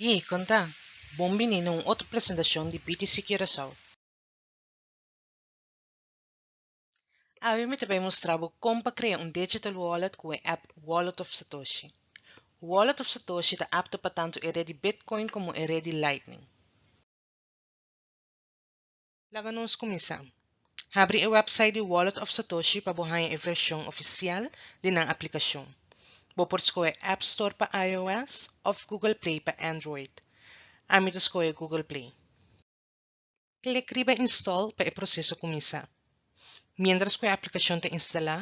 Hi, kon ta? Bon bini na un otro presentashon di BTC Curaçao. Awe mi ta bai mustra bo kon pa krea un digital wallet ku e app Wallet of Satoshi. Wallet of Satoshi ta apto pa tantu e red di Bitcoin komo e red di Lightning. Laga nos kuminsá. Habri e wèpsait di Wallet of Satoshi pa bo haña e vershon ofisial di nan aplikashon. Bo por skohe App Store pa iOS òf Google Play pa Android. Ami ta skohe Google Play. Klik riba Install pa e proseso kuminsá. Mientras cu e aplicacion ta instala,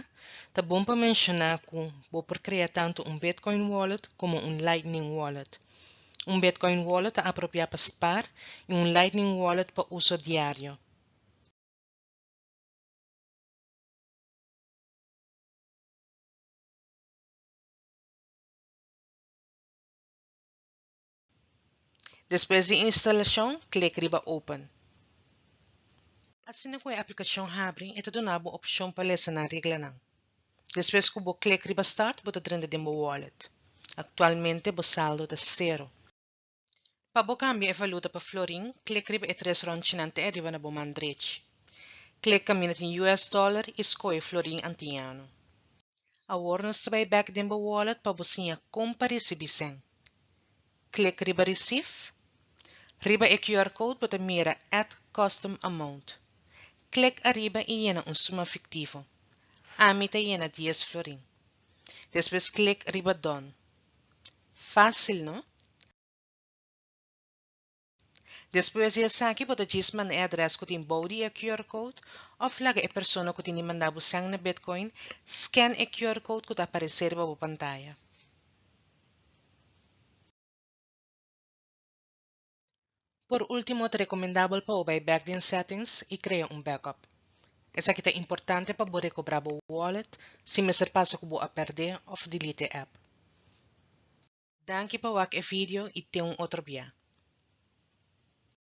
ta bon pa menciona cu bo por crea tanto un Bitcoin Wallet como un Lightning Wallet. Un Bitcoin Wallet ta apropia pa spar y un Lightning Wallet pa uso diario. Despues di instalashon, klik riba Open. Asina ku e aplikashon habri, e ta duna bo opshon pa lesa nan reglanan. Despues ku bo klik riba Start, bo ta drenta den bo wallet. Aktualmente bo saldo ta sero. Pa bo kambia e valuta pa florin, klik riba e tres rònchinan te ariba na bo man drechi. Klik kaminda tin US dollar i skohe florin antiñano. Awor nos ta bai bek den bo wallet pa bo siña kon pa risibí sèn. Klik riba Receive. Riba e QR code bo ta mira Add Custom Amount. Klik ariba i yena un suma fiktivo. Ami ta yena dies florin. Despues klik riba Done. Fásil, no? Despues di esaki bo ta djis manda e adrès ku tin bou di e QR code òf laga e persona ku tin di manda bo sèn na Bitcoin skèn e QR code ku ta aparesé riba bo pantaya. Por último ta rekomendabel pa bo bai bèk den Settings i krea un backup. Esaki ta importante pa bo rekobrá bo wallet si mester pasa ku bo a pèrdé òf delete e app. Danki pa wak e video y ten un otro bia.